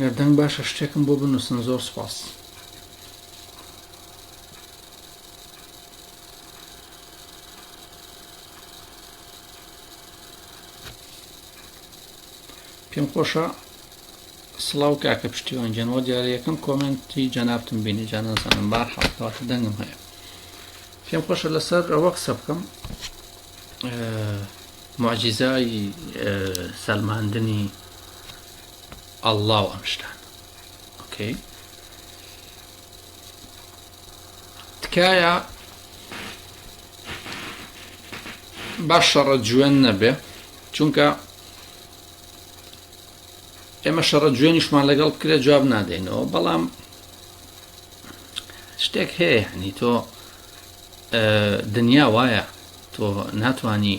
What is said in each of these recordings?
گەردەنگ باشە شتێکم بۆ بنووسن زۆر سپاس پێم خۆشە سڵاو کاکە پشتیوان گیان وا دیارە یەکەم کۆمێنتی جەنابتم بینی جا نازانم بار حاڵکەواتە دەنگم هەیە پێم خۆشە لەسەر ئەوە قسە بکەم معجیزای سەلماندنی ئەللا و ئەمشتان ئۆکەی تکایە باش شەڕە جوێن نەبێ چونکە ئێمە شەڕە جوێنیشمان لەگەڵ بکرێ جواب نادەینەوە بەڵام شتێک هەیە هەنی تۆ دنیا وایە تۆ ناتانی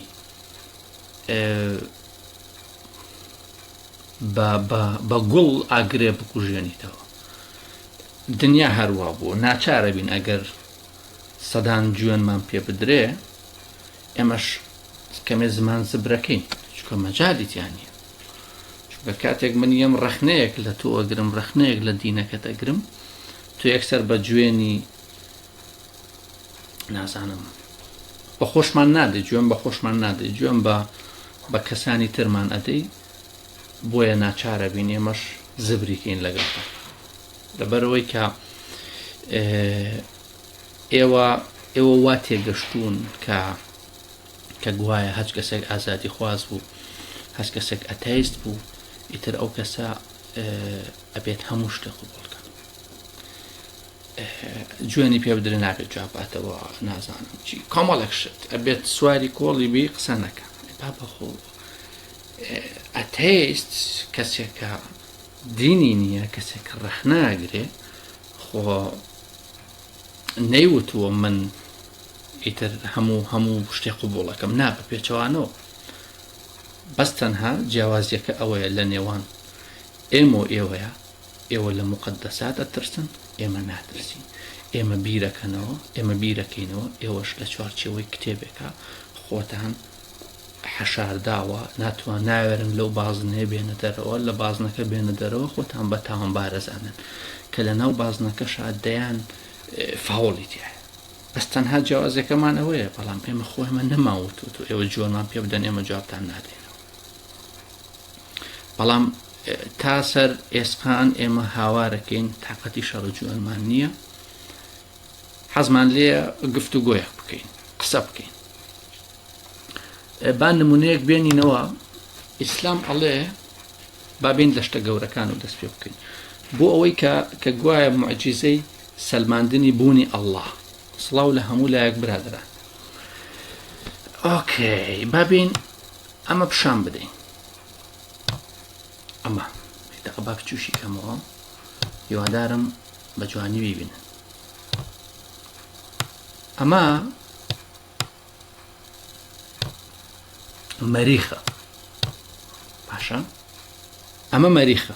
بە گوڵ ئاگرێ بکوژێنیتەوە دنیا هەروە بوو ناچارە بین ئەگەر سەدان جوێنمان پێ بدرێ ئێمەش کەمێ زمان زبرەکەین چکە مەجالی تیا نییە چونکە کاتێک من یەم ڕەخنەیەک لە تۆ ئەگرم ڕەخنەیەک لە دینەکەت ئەگرم تو یەکسەر بە جوێنی نازانم بە خۆشمان نادە جوێن بە خۆشمان نادە جوێن بە بە کەسانی ترمان ئەدەی بۆیە ناچارە بین ئێمەش زبریکەین لەگەڵ لەبەرەوەی کە ئێوە ئێوە وا تێگەشتوون کە کە گوایە هەچ کەسێک ئازادی خواز بوو هەست کەسێک ئەتەیست بوو ئیتر ئەو کەسە ئەبێت هەموو شتێک قوبڵ بکەن جوێنی پێ بدرێ نابێت جواباتەوە نازانم چی کۆمەڵێک شت ئەبێت سواری کۆڵی بی قسە نەکە با بەخۆ ئەتەیست کەسێکە دینی نییە کەسێک ڕەخناگرێ خۆ نەیوتووە من ئیتر هەموو هەموو شتێ قوبوڵەکەم نا بە پێچەوانەوە بەس تەنها جیاوازیەکە ئەوەیە لە نێوان ئێمە و ئێوەیە ئێوە لە مقدەسات ئەترسن ئێمە ناترسین ئێمە بیرەکەنەوە ئێمە بیرەکەینەوە ئێوەش لە چوارچەوەی کتێبێکە خۆتان حەشارداوە ناتوان ناوێرن لەو بازنەیە بێنە دەرەوە لە بازنەکە بێنە دەرەوە خۆتان بە تاوانبار ئەزانن کە لە ناو بازنەکەشا دەیان فاوڵی تایە بەس تەنها جیاوازەکەمان ئەوەیە بەڵام ئێمە خۆیمە نەماوتوت و ئێوە جۆرمان پێ بدەن ئێمە جوابتان نادەینەوە بەڵام تا سەر ئێسقان ئێمە هاوارەکەین تااقەتی شەڕە جوانمان نییە حەزمان لێە گفت و گۆیەک بکەین قسە بکەین با نمونەیەک بێنینەوە ئیسلام ئەڵێ بابین لە شتە گەورەکان و دەست پێ بکەین بۆ ئەوەی کە کە گوایە معجیزەی سەلماندنی بوونی ئەله سڵاو لە هەموو لایەک برادرا ئۆکەی بابین ئەمە پیشان بدەین ئەمە با بچوشی کەمەوە هیوادارم بە جوانی بیبن ئەمە مەریخە باشە ئەمە مەریخە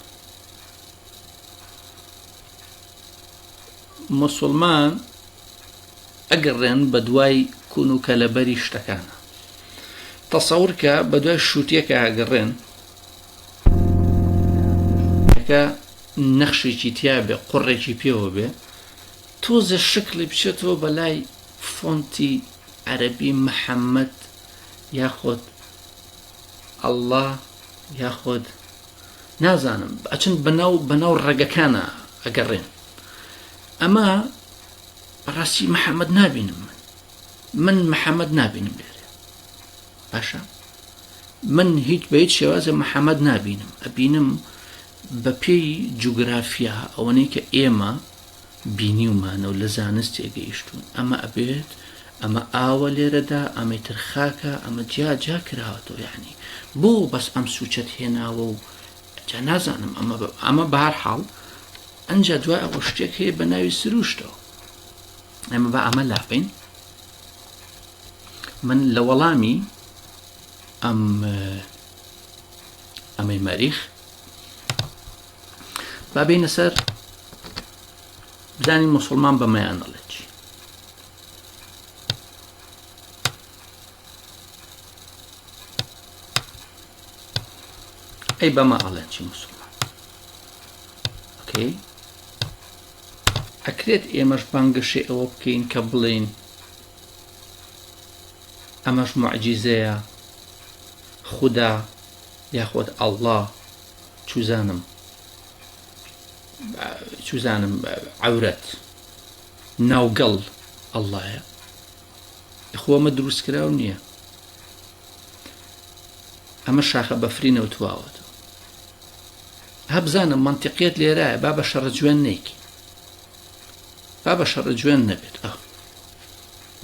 مسلمان ئەگەڕێن بە دوای کون و کەلەبەری شتەکانە تەسەورکە بە دوای شووتەکە ئەگەڕێن کە نەخشێکی تیا بێ قوڕێکی پێوە بێ تۆزێ شکڵی بچێتەوە بەلای فۆنتی عەرەبی محەممەد یاخۆت ئەله یاخۆت نازانم ئەچن بەناو بەناو ڕێگەکانە ئەگەڕێن ئەمە بەڕاستی محەممەد نابینم من من محەممەد نابینم لێرە باشە من هیچ بە هیچ شێوازە محەممەد نابینم ئەبینم بە پێی جوگرافیا ئەوەنەی کە ئێمە بینیومانە و لە زانست تێگەیشتون ئەمە ئەبێت ئەمە ئاوە لێرەدا ئەمەی تر خاکە ئەمە جیا جیا کراوەتەوە یعنی بۆ بەس ئەم سوچەت هێناوە و جا نازانم ئەمە ئەمە بار حاڵ ئەجا دوای ئەوە شتێک هەیە بە ناوی سروشتەوە ئەمە بە ئەمە لابین من لە وەڵامی ئەم ئەمەی مەریخ بابینە سەر بزانین مسلمان بەمەیان دەڵێت ئەی بەمە ئەڵێن چی مسلمان ئۆکەی ئەکرێت ئێمەش بانگەشێ ئەوە بکەین کە بڵێن ئەمەش موعجیزەیە خودا یاخۆد ئەڵڵا چوزانم چوزانم عورەت ناوگەڵ ئەڵڵایە خۆمە دروست کراو نییە ئەمە شاخە بەفری نەوتواوەت هەبزانە منتیقیت لێرایە با بە شەڕە جوێن نیک با بە شەڕە جوێن نەبێت ئەو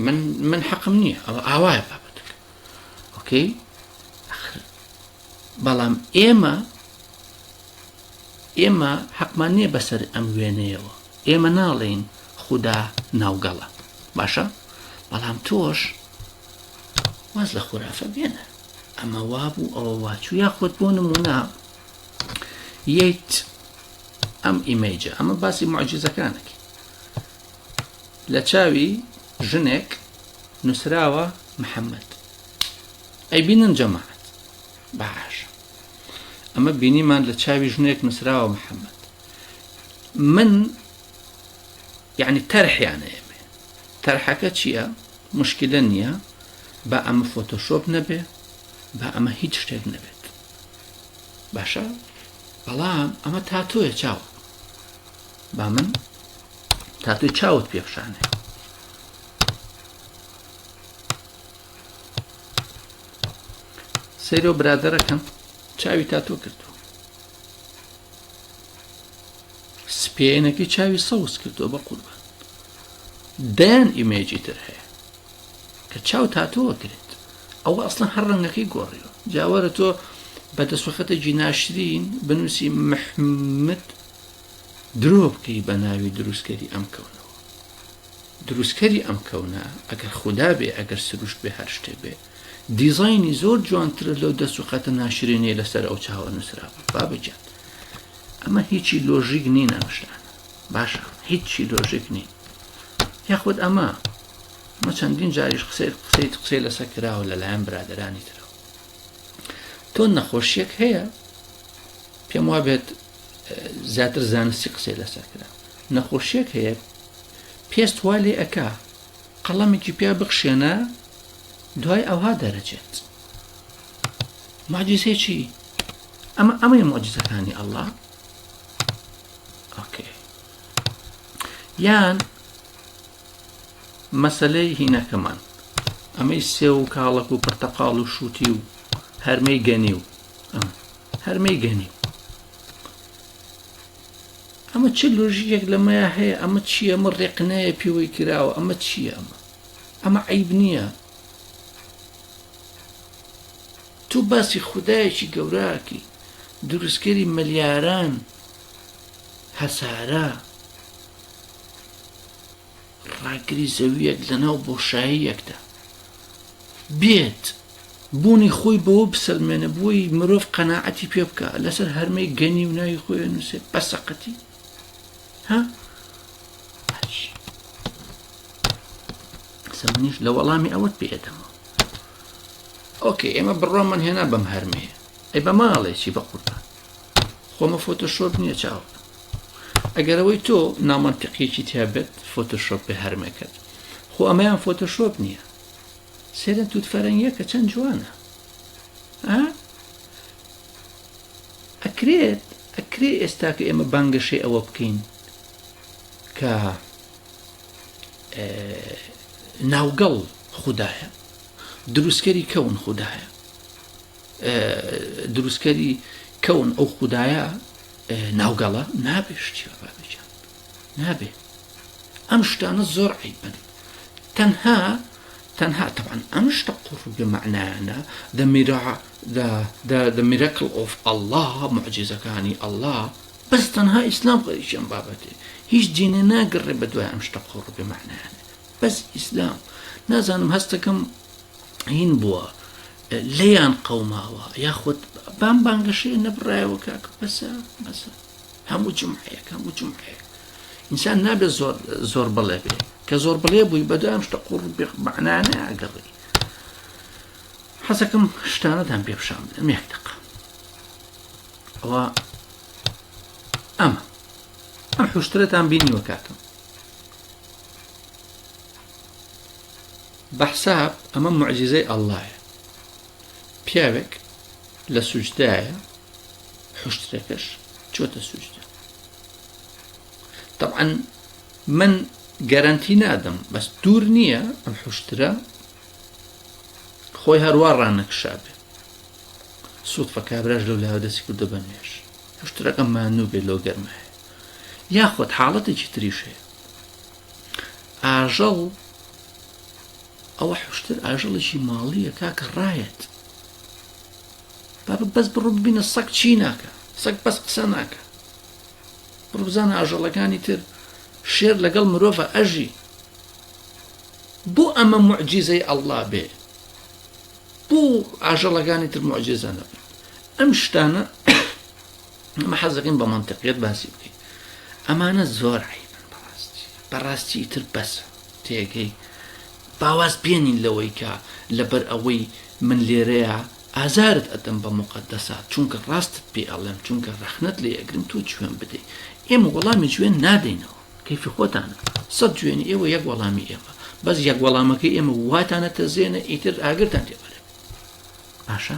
من من حەقم نییە ئەوە ئاوایە بابەتەکە ئۆکەی بەڵام ئێمە ئێمە حەقمان نییە بەسەر ئەم وێنەیەوە ئێمە ناڵێین خوددا ناوگەڵە باشە بەڵام تۆش واز لە خورافە بێنە ئەمە وابوو ئەوە واچوو یاخود بۆ نمونە یەیت ئەم ئیمەیجە ئەمە باسی معجززەکانەکی لە چاوی ژنێک نووسراوە محەممەد ئەی بینن جەماعات باش ئەمە بینیمان لە چاوی ژنێک نووسراوە محەممەد من یعنی تەرحیانە ئێمێ تەرحەکە چییە مشکلە نییە بە ئەمە فۆتۆشۆپ نەبێ بە ئەمە هیچ شتێک نەبێت باشە بەڵام ئەمە تاتۆیە چاوە با من تاتۆی چاوت پێخشانێ سەیرۆ برادەرەکەم چاوی تاتۆ کردو سپێنەکەی چاوی سەوز کردو بە قوربان دەیان ئیمێجی تر هەیە کە چاو تاتۆوە کرێت ئەوە ئەسڵەن هەر ڕەنگەکەی گۆڕیوە جاوەرە تۆ بە دەسوەخەتێکی ناشرین بنووسی محمد درۆ بکەی بە ناوی دروستکەری ئەم کەونەوە دروستکەری ئەم کەونە ئەگەر خوددا بێ ئەگەر سروشت بێ هەر شتێ بێ دیزایانی زۆر جوانتر لەو دەسوقەتە ناشرینەیە لەسەر ئەو چاوە نووسرا بابەجان ئەمە هیچی لۆژیک نین ئەمشتان باشە هیچی لۆژیک نین یاخود ئەمە مە چەندین جاریش قسەی قسەی قسەی لەسە کراوە لەلایەن برادرانی ترەوە تۆ نەخۆشیەک هەیە پێم وا بێت زیاتر زانستی قسەی لەسەر کرا نەخۆشیەک هەیە پێست وا لێ ئەک قەڵەمێکی پیا بخشێنە دوای ئەوها دەرەچێت ماجیزێ چی ئەمە ئەمەی مۆجزەکانی ئەله یان مەسەلەی هینەکەمان ئەمەی سێو و کاڵەک و پرتەقاڵ و شووتی و هەرمەی گەنی و ئەمە هەرمەی گەنی و ئەمە چ لۆژیەک لەمەیە هەیە ئەمە چییە ئەمە ڕێقنەیە پێوەی کراوە ئەمە چییە ئەمە ئەمە عیب نییە تو باسی خودایەکی گەوراکی دروستکەری ملیاران هەسارە ڕاگری زەویەک لەناو بۆشاییەکدا بێت بوونی خۆی بەوە بسەلمێنە بۆی مرۆڤ قەنەعەتی پێ بکە لەسەر هەرمەی گەنی و ناوی خۆیان نووسێ بەسەقەتی ها قسە منیش لە وەڵامی ئەوەت پێدەمەوە ئۆکە ئێمە بڕۆمان هێنا بەم هەرمەیە ئەی بە ماڵێکی بە قوربان خۆمە فۆتۆشۆپ نییە چاو ئەگەرەوەی تۆ نامەنتەقیەکی تیابێت فۆتۆشۆپ بە هەرمەکەت خۆ ئەمەیان فۆتۆشۆپ نییە سێرە توت فەرەنگیەکە چەند جوانە ئەکرێت ئەکرێ ئێستا کە ئێمە بانگەشەی ئەوە بکەین کە ناوگەڵ خوددایە دروستکەری کەون خوددایە دروستکەری کەون ئەو خودایە ناوگەڵە نابێ شتی بابێجان نابێ ئەم شتانە زۆر عیبن تەنها تەنها تەوان ئەم شتە قڕگە معنایانە دەمیرا دەمیرەکل ئۆف ئەله معجززەکانی ئەله بەس تەنها ئیسلام خەریکیان بابەتێ هیچ دینێ ناگەڕێ بە دوای ئەم شتە قڕگە معنایانە بەس ئیسلام نازانم هەستەکەم هین بووە لێیان قەوماوە یاخود بام بانگەشەیە نەبڕایەوە کاکە بەسە بەسە هەموو جمعەیەک هەموو جمعەیەک ئینسان نابێ زۆر زۆر بڵێ بێ کە زۆر بڵێ بووی بەدام شتە قوڕ بێخبانانە ئەگەڕی حەزەکەم شتانەتان پێ پیشان بدەم یەک دقە ئەوە ئەمە ئەم حوشترەتان بینیوە کاکەم بەحساب ئەمە معجزەی ئەڵلایە پیاوێک لە سوجدایە حشتەکەش چۆتە سوجدە طبعا من گەرەنتی نادەم بەس دوور نییە ئەم حشترە خۆی هەروە ڕانەکشابێ سوودفە کابراش لەو لاوە دەستی کردە بە نوێش حشترەکە مانوو بێ لۆ گەرمایە یاخود حاڵەتێکی تریش هەیە ئاژەڵ ئەوە حشتر ئاژەڵێکی ماڵیە کاکە ڕایەت بابە بەس بڕ ببینە سەگ چی ناکە سەگ بەس قسە ناکە بڕبزانە ئاژەڵەکانی تر شێر لەگەڵ مرۆڤە ئەژی بۆ ئەمە معجیزەی ئەللا بێ بۆ ئاژەڵەکانی تر معجززانە ئەم شتانە ئەمە حەزەکەین بە منتەقیت باسی بکەین ئەمانە زۆر عیبن بەڕاستی بەڕاستی تر بەس تێگەی باواز پێێنین لەوەی کە لەبەر ئەوەی من لێرەیە ئازارت ئەدەم بە مقدەسات چونکە ڕاستت پێ ئەڵێم چونکە ڕەخنت لێ ئەگرم تۆ جوێن بدەیت ئێمە وەڵامی جوێن نادەینەوە کەفی خۆتانە سەد جوێنی ئێوە یەک وەڵامی ئێمە بەس یەک وەڵامەکە ئێمە واتانە تەزێنە ئیتر ئاگرتان تێبەرێت باشە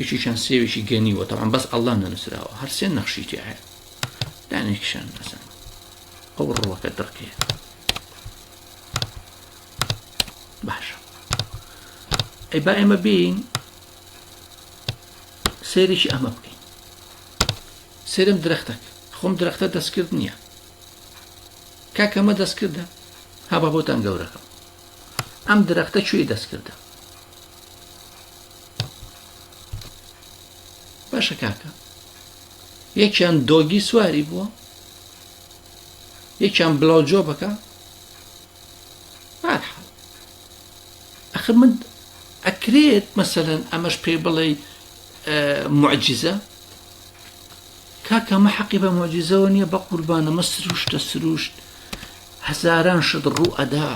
یەکێکیان سێوێکی گەنیوە تەوان بەس ئەللا نەنووسراوە هەر سێ نەخشی تێ هەیە دانێکیشان نەزان ئەو ڕوەکە دڕکێ باشە ئەی با ئێمە بین سێرێکی ئەمە بکەین سێرم درەختەک خۆم درەختە دەستکرد نییە کاکەمە دەستکردە هابا بۆتان گەورەکەم ئەم درەختە کوێی دەستکردە باشە کاکە یەکیان دۆگی سواری بووە یەکیان بلاو جۆ بەکە بارحاڵ ئەخر من ئەکرێت مەسەەن ئەمەش پێ بڵێ معجززە کاکەمە حەقی بە مۆجیزەوە نییە بە قوربانەمە سروشتە سروشت هەزاران شت ڕوو ئەدا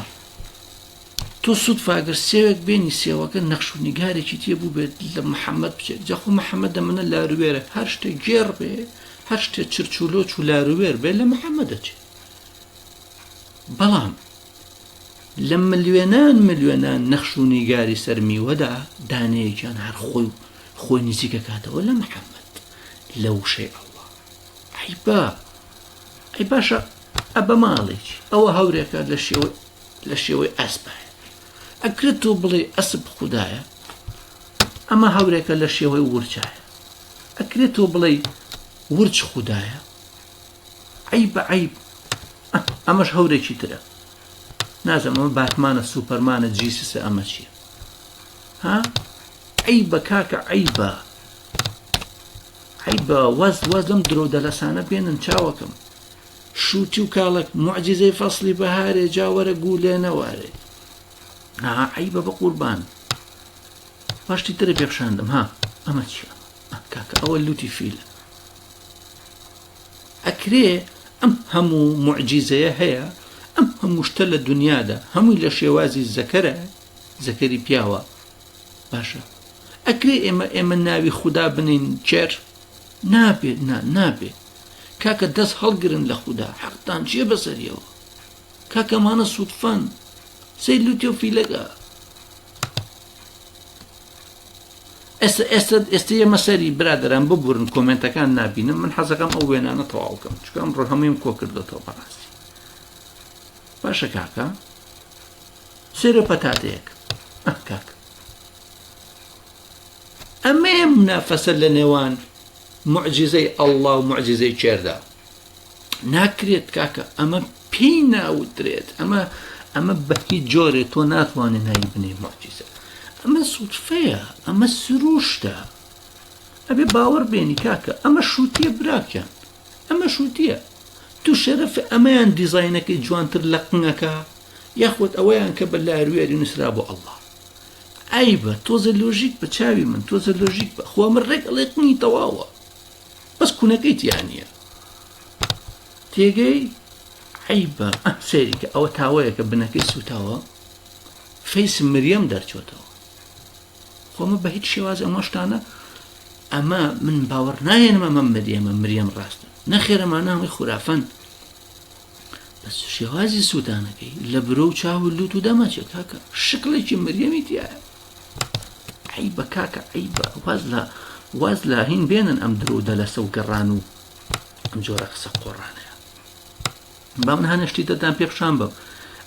تۆ سوتفە گەر سێوێک بێنی سێوەکە نەخش و نیگارێکی تێ بوو بێت لە محەممەد بچێت جەخۆ محەممەد دەمەە لاروێرە هەر شتێک گێڕ بێ هەر شتێ چرچولۆ و لاروێر بێ لە محەممە دەچێت بەڵام لە ملیێنان ملیێنان نەخش و نیگاری سەر میوەدا دانەیەکیان هەر خۆی و خۆی نزیکە کاتەوە لە محەممەد لە وشەی ئەوە عیبا ئەی باشە ئە بە ماڵێکی ئەوە هەورێکە لە شێوە لە شێوەی ئەسپایە ئەکرێت تۆ بڵێ ئەسپ خودایە ئەمە هەورێکە لە شێوەی ورچایە ئەکرێت تۆ بڵێ ورچ خودایە ئەی بە عیب ئەمەش هەورێکی ترە نازەمەوە باتمانە سوپەرمانە جیسسە ئەمە چیە ها ئەی بە کاکە عیبە عیبە وەز وەز لەم درۆ دەلەسانە بێنن چاوەکەم شووتی و کاڵەک موعجیزەی فەسڵی بەهارێ جا وەرە گوو لێ نەوارێ ئاها عەیبە بەقوربان باشتی ترە پێخشاندم ها ئەمە چیە کاکە ئەوە لوتی فیلە ئەکرێ ئەم هەموو معجیزەیە هەیە ئەم هەمووشتە لە دنیادا هەمووی لە شێوازی زەکەرە زەکەری پیاوە باشە ئەکرێ ئێمە ئێمە ناوی خوددا بنین چێر نابێت نا نابێت کاکە دەست هەڵگرن لە خودا حەقتان چیە بەسەریەوە کاکەمانە سوودفەن سەیر لوتێ و فیلەکە ئێستا ئێستا ئێستا ئێمە سەری برادران ببورن کۆمنتەکان نبینم من حەزەکەم ئەو وێنانە تەواوکەم چکەم ڕۆ هەموویم کۆ کردێتەوە بەڕاستی باشە کاکە سێرە پەتاتەیەک کاک ئەمەیە منافەسە لە نێوان معجزەی ئەڵڵا و معجزەی کێردا ناکرێت کاکە ئەمە پێی ناوترێت ئەمە ئەمە بەهی جۆرێ تۆ ناتوانێت ناوی بنێ معجزە ئەمە سوتفەیە ئەمە سروشتە ئەبێ باوەڕ بێنی کاکە ئەمە شووتە براکەن ئەمە شووتە تو شەرف ئەمەیان دیزینەکەی جوانتر لە قنگەکە یاخود ئەوەیان کە بە لاروێری نووسرا بۆ ئەڵڵا عەیبە تۆزێ لۆژیک بە چاوی من تۆزێ لۆژیک بە خۆ من ڕێک ئەڵێ قنی تەواوە بەس کوونەکەی تیانە تێگەی عیبە سەیریکە ئەوە تاوەیەکە بنەکەی سوتاوە فەیس مریەم دەرچۆتەوە خۆمە بە هیچ شێواز ئەمە شتانە ئەمە من باوەڕ نایەنمە مە مریەمە مریەم ڕاستە نەخێرەمانە هەمووی خورافەن بەس شێوازی سووتانەکەی لە برۆ و چاو و لووت و دەمەچێ کاکە شکڵێکی مریەمی تایە عی بە کاکە عی بە واز لە واز لە هین بێنن ئەم درۆ دەلەسە و گەڕان و ئەم جۆرە قسە قۆڕانەیە با من هەنشتی دەدان پێ پیشان بم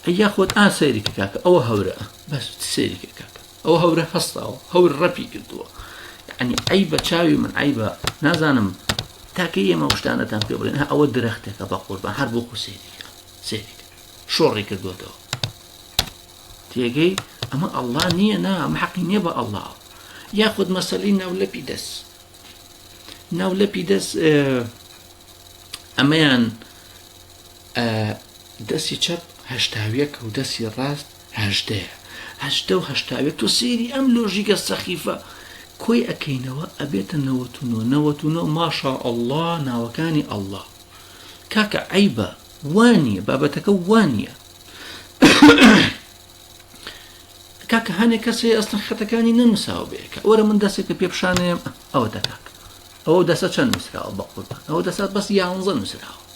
ئەی یاخۆت ئا سەیرێکی کاکە ئەوە هەورە بەس سەیرێکی کاکە ئەو هەورە هەستاوە هەور ڕەپی کردووە یعنی ئەی بە چاوی من ئەی بە نازانم تاکە ئێمە شتانەتان پێ بڵێن ئەوە درەختێکە بە قوربان هەر بۆ خۆ سێری سێری شۆڕی کردوێتەوە تێگەی ئەمە ئەلله نییە نا ئەمە حەقی نییە بە ئەلله یاخود مەسەلی ناولەپی دەست ناولەپی دەست ئەمەیان دەستی چەپ هەشتاویەک و دەستی ڕاست هەژدەیە هەژدە و هەشتاوێ تۆ سەیری ئەم لۆژیکە سەخیفە کۆی ئەکەینەوە ئەبێتە نەوەت و نۆ نەوەت و نۆ ماشا ئەڵڵا ناوەکانی ئەڵڵا کاکە عیبە وانە بابەتەکە وانە کاکە هەنێک کەس هەیە ئەستن خەتەکانی نەنووساوە بەیەکە وەرە من دەستێکە پێ پیششانەیەم ئەوە دەکات ئەو دەسە چەند نووسراوە بە قوربان ئەو دەسات بەس یانزە نووسراوە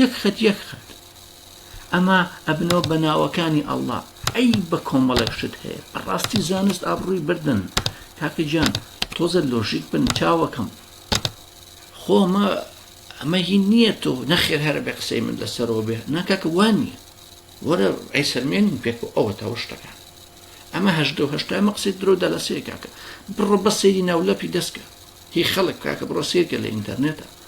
یەک خەت یەک خەت ئەمە ئەبنەوە بە ناوەکانی ئەللا ئەی بە کۆمەڵێک شت هەیە بەڕاستی زانست ئابڕووی بردن کاکە گیان تۆزە لۆژیک بن چاوەکەم خۆمە ئەمە هی نییە تۆ نەخێر هەرە بە قسەی من لەسەرەوە بێ ناکاکە وان نییە وەرە ئەیسەرمێنین پێک و ئەوە تاوە شتەکان ئەمە هەشدە و هەشتا ئەمە قسەی درۆ دەلەسەیە کاکە بڕۆ بە سەیری ناولەپی دەستکە هی خەڵک کاکە بڕۆ سیرکە لە ئینتەرنێتە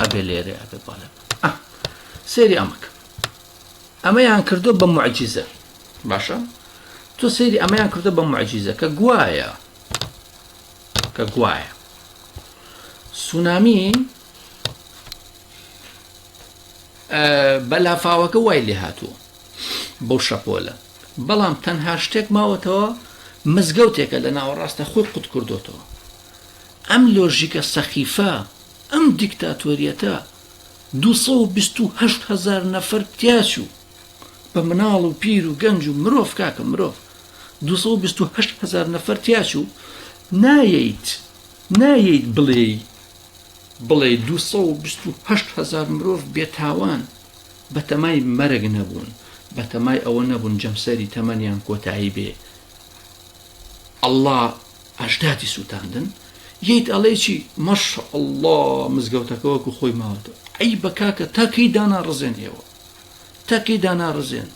ئەبێ لێرێ ئەبێ بەڵێ سێری ئەمەکە ئەمەیان کردو بە معجززە باشە تۆ سێری ئەمەیان کردو بە معجززە کە گوایە کە گوایە سونامی بە لافاوەکە وای لێ هاتووە بەو شەپۆلە بەڵام تەنها شتێک ماوەتەوە مزگەوتێکە لە ناوەڕاستە خۆی قوت کردوتەوە ئەم لۆژیکە سەخیفە، ئەم دیکتاتۆریەتە دوو سەد و بیست و هەشت هەزار نەفەر تیاچوو، بە مناڵ و پیر و گەنج و مرۆڤ کاکە مرۆڤ دوو سەد و بیست و هەشت هەزار نەفەر تیاچوو، نایەیت نایەیت بڵێی بڵێی دوو سەد و بیست و هەشت هەزار مرۆڤ بێ تاوان بە تەمای مەرگ نەبوون، بە تەمای ئەوە نەبوون جەمسەری تەمەنیان کۆتایی بێ. ئەڵا. ئەژدادی سوتاندن یەیت ئەڵێی چی ماشاءاللە مزگەوتەکە وەکو خۆی ماوەتەوە عەیبە کاکە تا کەی داناڕزێن ئێوە تا کەی داناڕزێن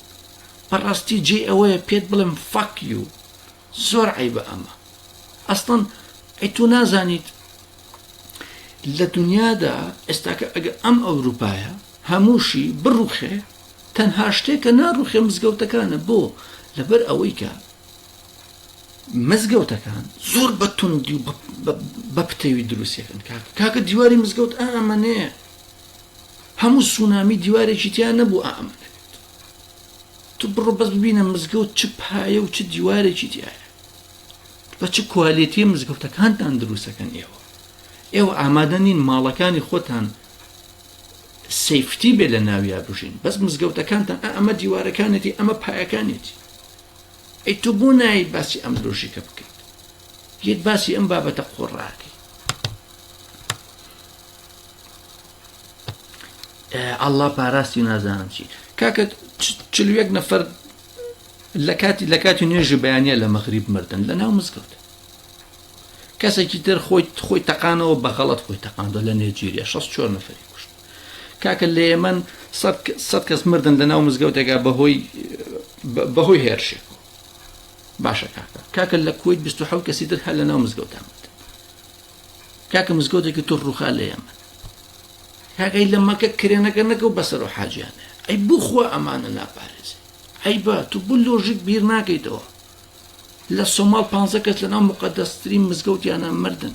بەڕاستی جێ ئەوەیە پێت بڵێم فەک یو زۆر عەیبە ئەمە ئەستان ئەی تۆ نازانیت لە دنیادا ئێستاکە ئەگە ئەم ئەوروپایە هەمووشی بڕوخێ تەنها شتێکە ناڕوخێ مزگەوتەکانە بۆ لەبەر ئەوەی کە مزگەوتەکان زۆر بە توندی و بە پتەوی دروستەکەن کاک کاکە دیواری مزگەوت ئامەێ هەموو سونامی دیوارێکی تیان نەبوو ئامە تو بڕۆ بەس ببینە مزگەوت چ پایە و چ دیوارێکی تایە بە چ کوالێتی مزگەوتەکانتان دروستەکەن ئێوە ئێوە ئامادە نین ماڵەکانی خۆتان سیفتی بێ لە ناویا بژین بەس مزگەوتەکانتان ئەمە دیوارەکانێتی ئەمە پایەکانێتی ئەی تۆ بۆ نایت باسی ئەم لۆژیکە بکەیت یەت باسی ئەم بابەتە قۆڕاکەی ئەله پاراستی نازانم چی کاکە چلوێک نەفەر لە کاتی لە کاتی نوێژی بەیانە لە مەغریب مردن لە ناو مزگەوت کەسێکی تر خۆی خۆی تەقانەوە بەغەڵت خۆی تەقاندۆ لە نێجیریا 16 نەفری کوشت کاکە لە یەمەن سەد کەس مردن لە ناو مزگەوتێکا بەهۆی بەهۆی هێرشێک باشە کاکە کاکە لە کویت 26 کەسی تر هەر لە ناو مزگەوتان کاکە مزگەوتێکی تر ڕوخا لە یەمە کاکەی لە مەکە کرێنەکە نەکە و بەسەر و حاجیانە ئەی بخوا ئەمانە ناپارێزی ئەی بە تو بو لۆژیک بیر ناکەیتەوە لە سۆماڵ پ کەس لە ناو مقدەسترین مزگەوتیانە مردن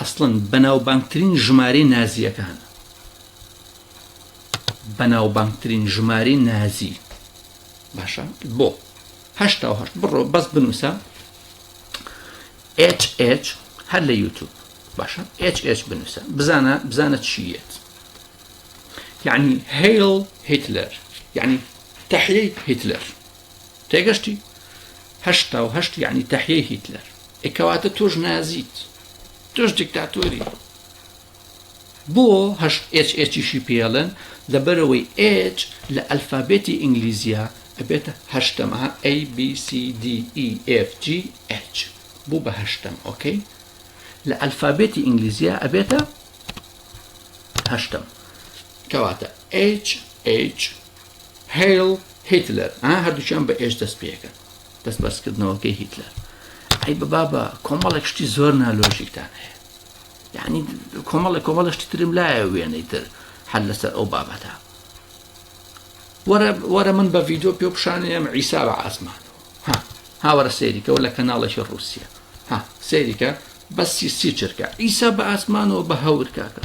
ئەسڵەن بەناوبانگترین ژمارەی نازییەکان بەناوبانگترین ژمارەی نازی باشە بۆ هەشتا و هەشت بڕۆ بەس بنووسە H H هەر لە یوتوب باشە H H بنووسە بزانە بزانە چیت یعنی هەیڵ هیتلەر یعنی تحیی هیتلەر تێگەشتی هەشتا و هەشت یعنی تەحیەی هیتلەر ئەکەواتە تۆش نازیت تۆش دیکتاتۆری بۆ هەشت ئچیشی پێڵن لەبەرەوەی ئچ لە ئەلفابێتی ئینگلیزیە ئەبێتە هەشتەمە ABCDEFG H بوو بە هەشتەم ئۆکەی لە ئەلفابێتی ئینگلیزیە ئەبێتە هەشتم کەواتە H H Heil Hitler ها هەردووکیان بە ئێش دەست پێکەن دەست بەرزکردنەوەکەی هیتلەر ئەی بە بابە کۆمەڵێک شتی زۆر نالۆژیکتان هەیە یعنی کۆمەڵێک کۆمەڵە شتی ترم لایە وێنەی تر هەر لەسەر ئەو بابەتە وەرە من بە ڤیددیو پێ پیشانەیەم ئیسا بە ئاسمان ها هاوەرە سەیریکەەوە لە کەناڵێکی رووسیا ها سەیریکە بەسی سی چرکە ئیسا بە ئاسمانەوە بە هەور کاکە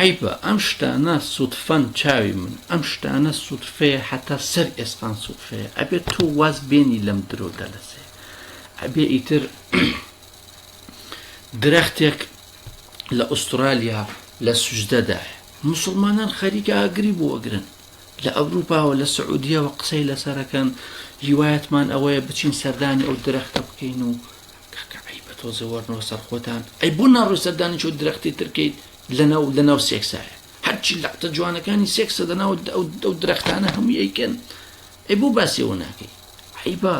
عەیبە ئەم شتانە سوتفەن چاوی من ئەم شتانە سوتفەیە حەتا سەر ئێسقان سوتفەیە ئەبێت تۆ واز بێنی لەم درۆ دەلەسێ ئەبێ ئیتر درەختێک لە ئوسترالیا لە سوژدەدایە مسلمانان خەریکە ئاگری بۆ ئەگرن لە ئەوروپاوە لە سعودیەوە قسەی لەسەرەکەن هیوایەتمان ئەوەیە بچین سەردانی ئەو درەختە بکەین و کاکە عەیبە تۆزێ وەرنەوە سەر خۆتان ئەی بۆ ناڕۆی سەر دانیشە و درەختی تر کەیت لەناو لەناو سێکسایە هەرچی لەقتە جوانەکانی سێکسە دەناو ئەو ئەو درەختانە هەمووی ئەیکەن ئەی بۆ باسی ئەوە ناکەی عەیبە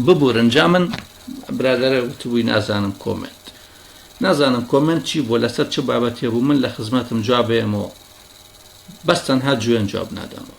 ببورن جا من برادەرە وتبووی نازانم کۆمنت نازانم کۆمنت چی بۆ لەسەر چ بابەت هێبوو من لە خزمەتم جوابێمەوە بەس تەنها جوێن جواب نادەمەوە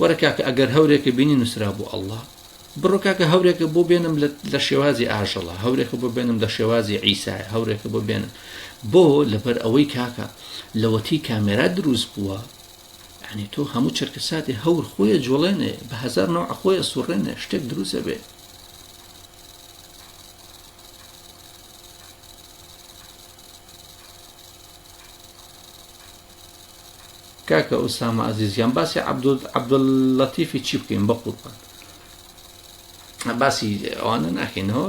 وەرە کاکە ئەگەر هەورێکە بینی نووسرا بۆ ئەللا بڕۆ کاکە هەورێکە بۆ بێنم لە شێوازی ئاژەڵە هەورێکە بۆ بێنم لە شێوازی عیسایە هەورێکە بۆ بێنم بۆ لەبەر ئەوەی کاکە لەوەتی کامێرا دروست بووە ینی تۆ هەموو چرکە ساتی هەور خۆیە جوڵێنێ بە هزار نەوە خۆیە سوڕێنێ شتێک دروستە بێ کاکە ئوسامە ئەزیز گیان باسی عەبدوللەتیفی چی بکەین بە قوربان باسی ئەوانە ناکەینەوە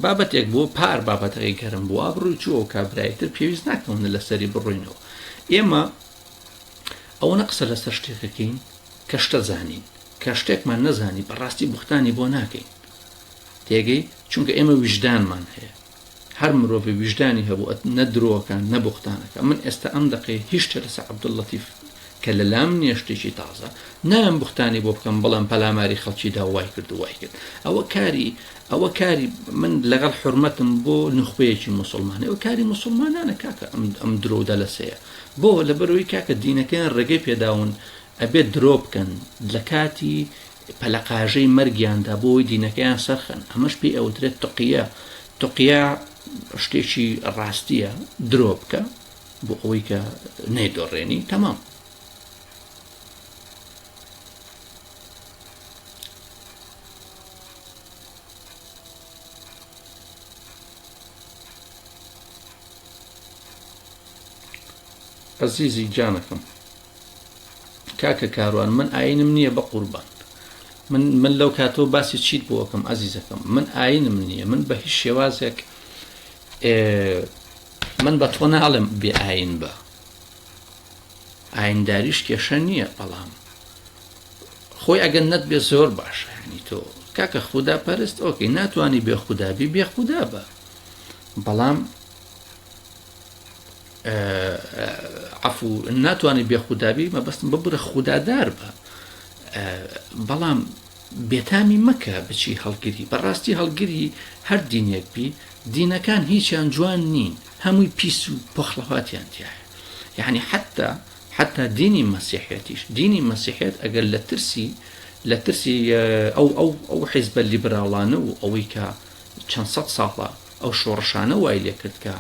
بابەتێک بۆ پار بابەتەکەی گەرم بووە بڕووی چوە و کابرایتر پێویست ناکەونە لەسەری بڕوینەوە ئێمە ئەوەنە قسە لەسەر شتێکەکەین کە شتە زانین کە شتێکمان نەزانی بەڕاستی بختانی بۆ ناکەین تێگەی چونکە ئێمە ویژدانمان هەیە هەر مرۆڤێ ویژدانی هەبوو ئەت نە درۆکە نە بوختان ئەکا من ئێستا ئەم دەقەی هیچ شتێ لەسە عبداللطیف کە لە لام نیە شتێکی تازە نایەم بوختانی بۆ بکەم بڵێم پەلاماری خەڵکی دا وای کرد و وای کرد ئەوە کاری ئەوە کاری من لەگەڵ حرمەتم بۆ نوخبەیەکی موسڵمانە ئەو کاری موسڵمانانە کاکە ئەم ئەم درۆ دەلەسەیە بۆ لە بەرەوەی کاکە دینەکەیان ڕێگەی پێداون ئەبێت درۆ بکەن لە کاتی پەلەقاژەی مەرگیاندا بۆوەی دینەکەیان سەرخەن ئەمەش پێی ئەوترێت تقیە تقیە شتێکی ڕاستیە درۆ بکە بۆ ئەوەی کە نەیدۆڕێنی تەمام ئەزیزی جانەکەم کاکە کاروان من ئاینم نییە بە قوربان من من لەو کاتەوە باسی چیت بۆکەم ئازیزەکەم من ئاینم نییە من بە هیچ شێوازێک من بە تۆ ناڵێم بێ ئاین بە ئاینداریش کێشە نییە بەڵام خۆی ئەگەن نەت بێ زۆر باشە ینی تۆ کاکە خوددا پەرست ئۆکەی ناتوانانی بێ خوددابی بێ خوددا بە بەڵام عەفو ناتوانانی بێ خودابی مەبەستم ببرە خودادار بە بەڵام بێتامی مەکە بچی هەڵگری بەڕاستی هەڵگری هەر دینێک بی دینەکان هیچیان جوان نین هەمووی پیس و پۆخڵەواتیان تایە یعنی حتا حتا دینی مەسیحەتیش دینی مەسیحێت ئەگەر لە ترسی لە ترسی ئەو ئەو ئەو حیزبە لیبراڵانە و ئەوەی کە چەند سە ساڵە ئەو شۆڕشانە وای لێکردکە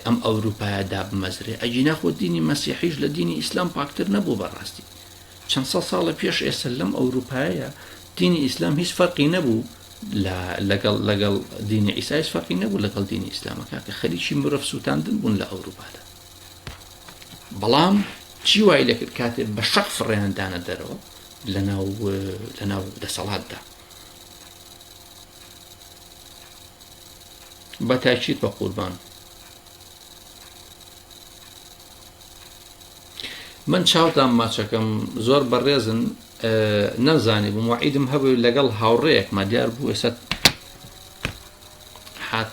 ئەم ئەوروپایە دابمەزرێ ئەگینا خۆ دینی مەسیحیش لە دینی ئیسلام پاکتر نەبوو بەڕاستی چەند سە ساڵە پێش ئێستا لەم ئەوروپایە دینی ئیسلام هیچ فەرقی نەبوو لەگەڵ لەگەڵ دینی ئیسایش فەرقی نەبوو لەگەڵ دینی ئیسلامەکە کە خەریکی مرۆڤ سووتاندن بوون لە ئەوروپادا بەڵام چی وای لەکرد کاتێ بە شەق فڕێندانە دەرەوە لەناو لەناو دەسەڵاتدا بەتاکیت بەقوربان من چاوتان ماچەکەم زۆر بەڕێزن نەمزانی بووم وعیدم هەبوو لەگەڵ هاوڕێیەکمە دیار بوو ئێستا حات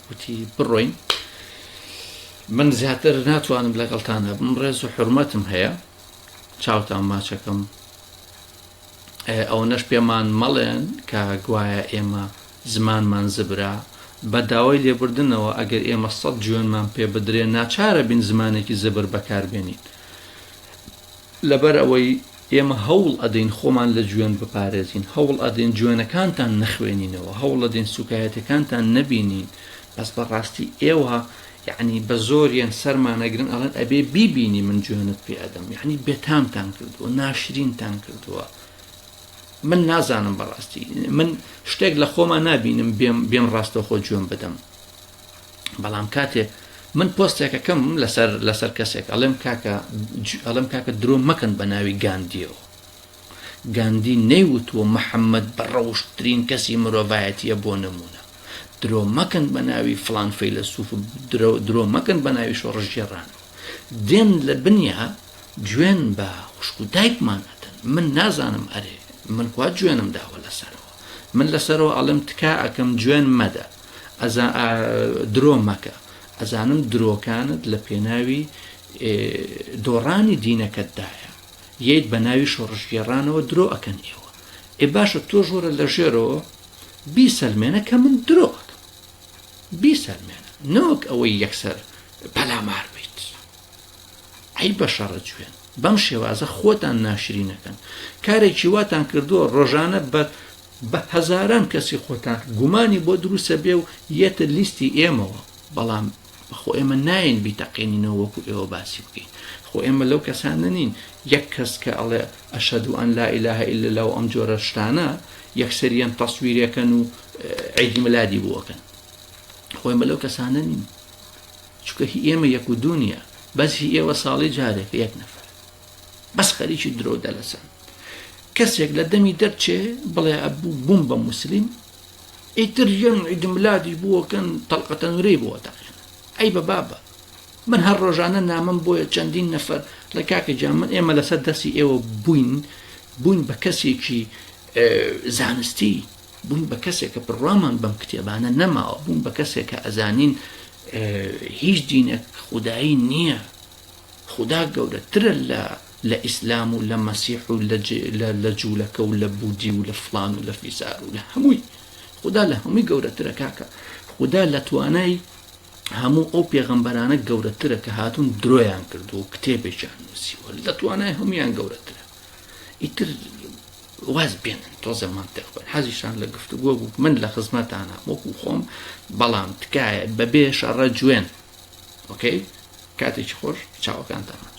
وتی بڕۆین من زیاتر ناتوانم لەگەڵتان هەبم ڕێز و حرمەتم هەیە چاوتان ماچەکەم ئەوەنەش پێمان مەڵێن کە گوایە ئێمە زمانمان زبرا بە داوای لێبردنەوە ئەگەر ئێمە سەد جوێنمان پێ بدرێ ناچارە بین زمانێکی زبر بەکاربێنین لەبەر ئەوەی ئێمە هەوڵ ئەدەین خۆمان لە جوێن بپارێزین هەوڵ ئەدەین جوێنەکانتان نەخوێنینەوە هەوڵ ئەدەین سوکایەتەکانتان نەبینین بەس بەڕاستی ئێوە یەعنی بە زۆریان سەرمان ئەگرن ئەڵێن ئەبێ بیبینی من جوێنت پێ ئەدەم یەعنی بێتامتان کردووە ناشرینتان کردووە من نازانم بەڕاستی من شتێک لە خۆمان نابینم بێم بێم ڕاستەوخۆ جوێن بدەم بەڵام کاتێ من پۆستێکەکەم لەسەر لەسەر کەسێک ئەڵێم کاکە ئەڵم کاکە درۆ مەکەن بە ناوی گاندیەوە گاندی نەیوتووە محەمەد بە ڕەوشتترین کەسی مرۆڤایەتیە بۆ نمونە درۆ مەکەن بە ناوی فلان فەیلەسوف درۆ مەکەن بە ناوی شۆڕشگێڕان دێن لە بنیا جوێن بە خوشک و دایکمان ئەدەن من نازانم ئەرێ من کوا جوێنم داوە لەسەرەوە من لەسەرەوە ئەڵم تکا ئەکەم جوێن مەدە ئەزا درۆ مەکە ئەزانم درۆکانت لە پێناوی دۆڕانی دینەکەتدایە یت بەناوی شۆڕشگێڕانەوە درۆ ئەکەن ئێوە ئێ باشە تۆش وەرە لە ژێرەوە بیسەلمێنە کە من درۆ ئەکەم بیسەلمێنە نەوەک ئەوەی یەکسەر پەلامار بیت ئەی بە شەڕە جوێن بەم شێوازە خۆتان ناشرینەکەن کارێکی واتان کردووە ڕۆژانە بە بە هەزاران کەسی خۆتان گومانی بۆ دروسە بێ و یەتە لیستی ئێمەوە بەڵام خۆ ئێمە نایەین بیتەقێنینەوە وەکو ئێوە باسی بکەین خۆ ئێمە لەو کەسانە نین یەک کەس کە ئەڵێ ئەشەدو ئەن لا ئیلاهە ئیل لە و ئەم جۆرە شتانە یەکسەریان تەسویرەکەن و عیدی ملادی بووەکەن خۆی مە لەو کەسانە نین چکە هی ئێمە یەک و دونیا بەس هی ئێوە ساڵی جارێک یەک نەفەر بەس خەریکی درۆ دەلەسن کەسێک لە دەمی دەرچێ بڵێ ئەبوو بووم بە مسلیم ئیتر ژن عیدملادی بووەکەن تەلقەتە نورەی بۆ دەقێن ئەی بە بابە من هەر ڕۆژانە نامم بۆیە چەندین نەفەر لە کاکە جا من ئێمە لەسەر دەستی ئێوە بووین بووین بە کەسێکی زانستی بووین بە کەسێک کە بڕوامان بەم کتێبانە نەماوە بووم بە کەسێک کە ئەزانین هیچ دینە خودایی نییە خدا گەورەترە لە لە ئیسلام و لە مەسیح و لە جولەکە و لە بودی و لە فڵان و لە فیسار و لە هەمووی خودا لە هەمووی گەورەترە کاکە خودا لە توانای هەموو ئەو پێغەمبەرانە گەورەترە کە هاتون درۆیان کردو و کتێبێکیان نووسیوە لە توانای هەمویان گەورەترە ئیتر واز بێنن تۆزە منتیق بن حەزیشان لە گفتوگۆ بوو من لە خزمەتانە وەکو خۆم بەڵام تکایە بەبێ شەڕە جوێن ئۆکەی کاتێکی خۆش چاوەکانتان ماچ